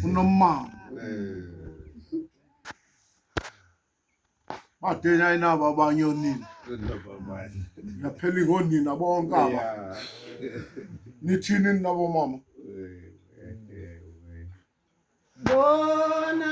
unomama badenya inabo abanye onini yaphela ingonina bonke aba nithini ninabo mama bona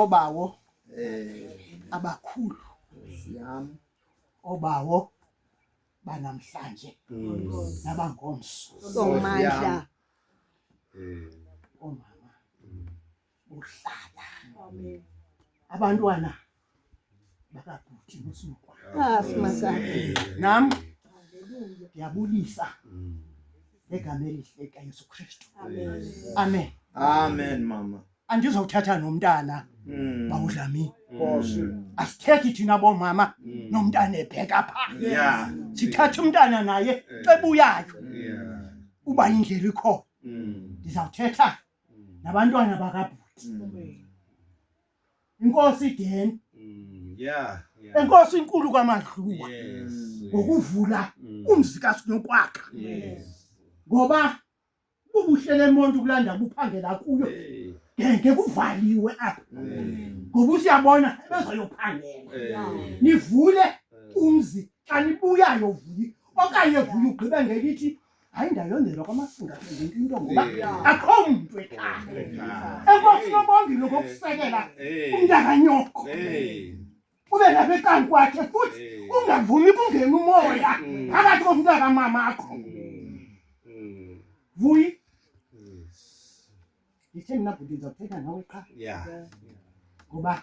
obawo abakhulu obawo banamhlanje nabangomso somandla omama buhlala amen abantwana bakabhuti nosinokwana ah simasakhe nam ndiyabulisa mm. ngegama elihle kayesu kristu amen amen mama andizawuthatha nomntana mm. bawudlami mm. asithethi thina bomama nomntana ebheka pha sithathe umntana naye eh. xebuyayo uba indlela ikhona ndizawuthetha nabantwana bakabhuti inkosi ideni yeah yeah enkosi inkulu kwamadluwa yes ngokuvula Mm. umzi kasinokwakha yes ngoba bubuhle lemonto kulanda buphangela kuyo Hey, ngeke kuvaliwe apha hey, ngoba usiyabona bezoyophangela hey, nivule hey. umzi xa nibuyayo vuyi okanye vuyi ugqibe ngelithi hayi ndayondelwa kwamasinga ngento into ngoba akho mntu ekhaya enkosini obongile ngokusekela umntakanyoko ube lapha ekani kwakhe futhi ungavumi kungena umoya mm. phakathi komntaka mamakho mm. mm. vuyi ndithe mna bhuti ndizawuthetha nawe qha ngoba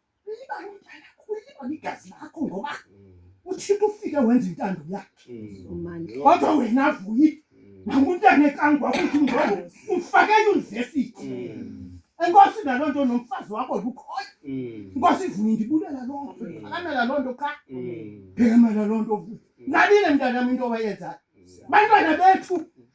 Ulibale umntana wakho, ulibale igazi lakho ngoba uThixo ufike wenza intando yakhe. Kodwa wena vuyi nakuntana ekangwa ukuthi ngoku ufake eyunivesithi. Enkosi naloo nto nomfazi wakho lukhona. Inkosi ivuye ndibulela loo nto, ndiphakamela loo nto qha. Ndiphakemela loo nto vuyi. Nabile mntanam into owayenzayo. Bantwana bethu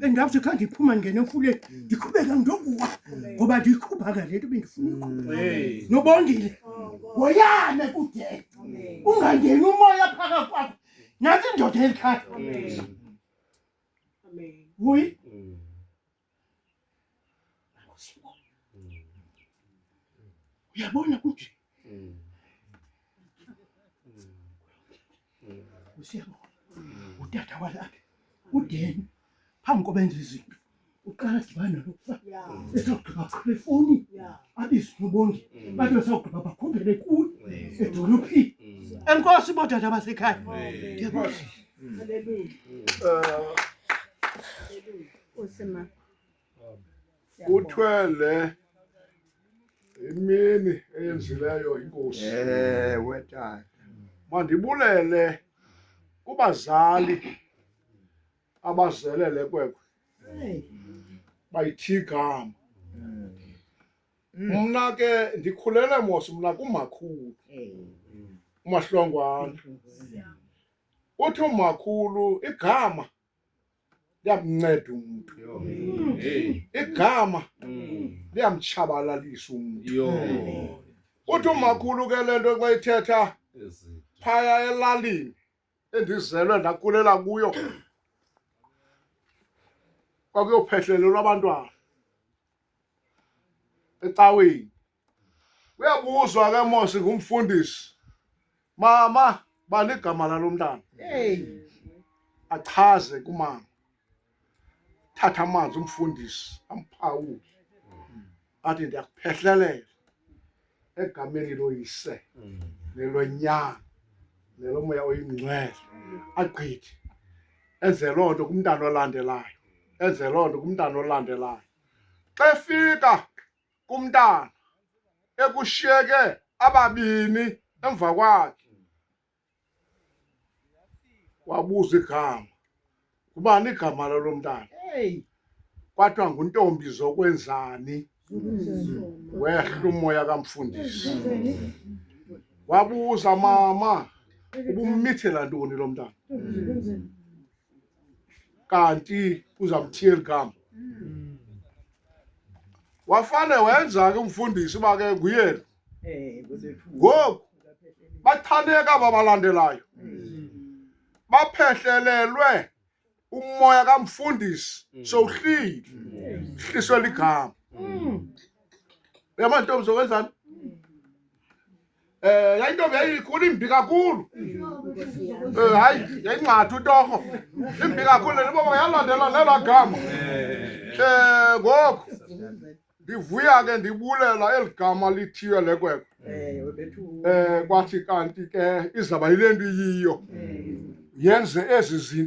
bendawuthi kha ndiphuma ndingena emfuleni ndiqhubeka ndokuwa ngoba ndiyiqhuba ka le nto bendifuna uyiqhuba nobongile woyame kude ungangeni umoya phaka kwakho nathi indoda elikhaya vuyi Uyabona ukuthi usiyabona udada walapha udeni phambi kobenza izinto uqala dibana lokufa esawugqiba qhela efoni abizwe ubongi bathi besawugqiba bakhumbele kuyo edolophini enkosi bodada basekhaya Usima. Uthwele imini eyenzileyo inkosi. Ewe tata. Mandibulele kubazali abazele le kwekwe bayithi igama mna ke ndikhulele mos mna kumakhulu umahlongwana uthi umakhulu igama liyamnceda umntu igama liyamtshabalalisa umntu uthi umakhulu ke le nto xa ithetha phaya elalini endizelwe ndakulela kuyo kwakuyophehlelelwa abantwana ecaweni uyabuzwa ke mos ngumfundisi mama bani igama lalo mntana achaze kumama thatha amanzi umfundisi amphawule athi ndiyakuphehlelela egameni loyise mm. nelonyana nelomoya oyingcwele agqithe enze loo nto kumntana olandelayo enze loo nto kumntana olandelayo xa efika kumntana ekushiyeke ababini emva kwakhe wabuza igama kubani igama lalo mntana kwathiwa nguntombi zokwenzani wehla umoya kamfundisi wabuza mama ubumithela ntoni lo mntana kanti uza kuthiya eli gama wafane wenza ke umfundisi uba ke nguyena ngoku bathaneka babalandelayo baphehlelelwe umoya kamfundisi sowuhlile hliswe ligama yamantombi zokwenzani Eh yayintombi yayikhulu imbi kakhulu. Eh hayi yayingxatha utorho. Imbi kakhulu le baba yalandela nela gama. Eh ngoku ndivuya ke ndibulela eli gama lithiywe lekwekwe. Eh kwathi kanti ke izaba yile nto iyiyo. Yenze ezi zinto